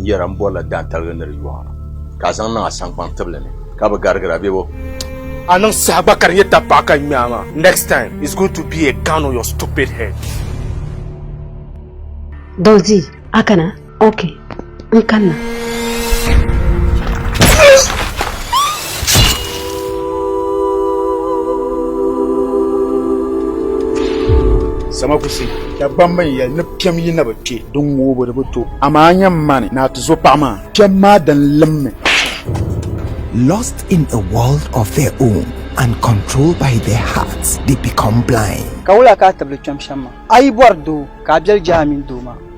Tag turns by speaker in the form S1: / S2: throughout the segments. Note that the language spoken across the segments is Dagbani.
S1: yɛra n bɔrila daantaligi ni di yɔɣa ka a zaŋ niŋ a saŋkpaŋ tibili ni ka bi garigira bebo a niŋ saha
S2: gba ka di nyɛ tapaɣa ka ŋmɛ a maa next time is going to be a gun on your stupid head
S3: Dozzy, a kana. Ok, n kanna.
S4: Samakusi, Dagbamba n yɛli ni piɛm yi na bi kpe din ŋoobu bi di bi to, amaa nyam mani ni a ti zo paɣa maa. Piɛm maa dan limmi.
S5: Lost in a world of their own and controlled by their hearts, they become blind. Ka wula ka a tibili kpɛm
S6: shɛm maa? A yi bɔri doo, ka a biɛli je a mini doo maa.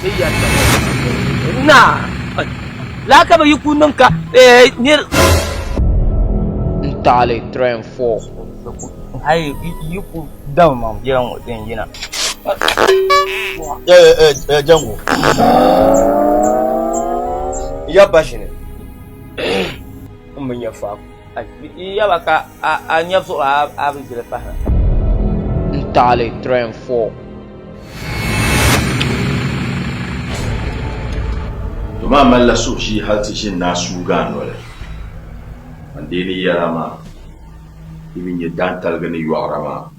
S7: Bɛ yɛltɔɣa Naa, lala ka bɛ yi ku niŋ ka nir.
S6: N-taɣili three and four. Hali
S7: yi ku dab ma biɛla ŋɔ din yina.
S1: Eeh Jango, n yaba ba ʒini
S7: m bi nya faako.
S1: maa malila suhushee hal ti ʒini ni a suugi a noli. Ban deei ni yɛra maa, di mi nyɛ daantaligi ni yɔɣira maa.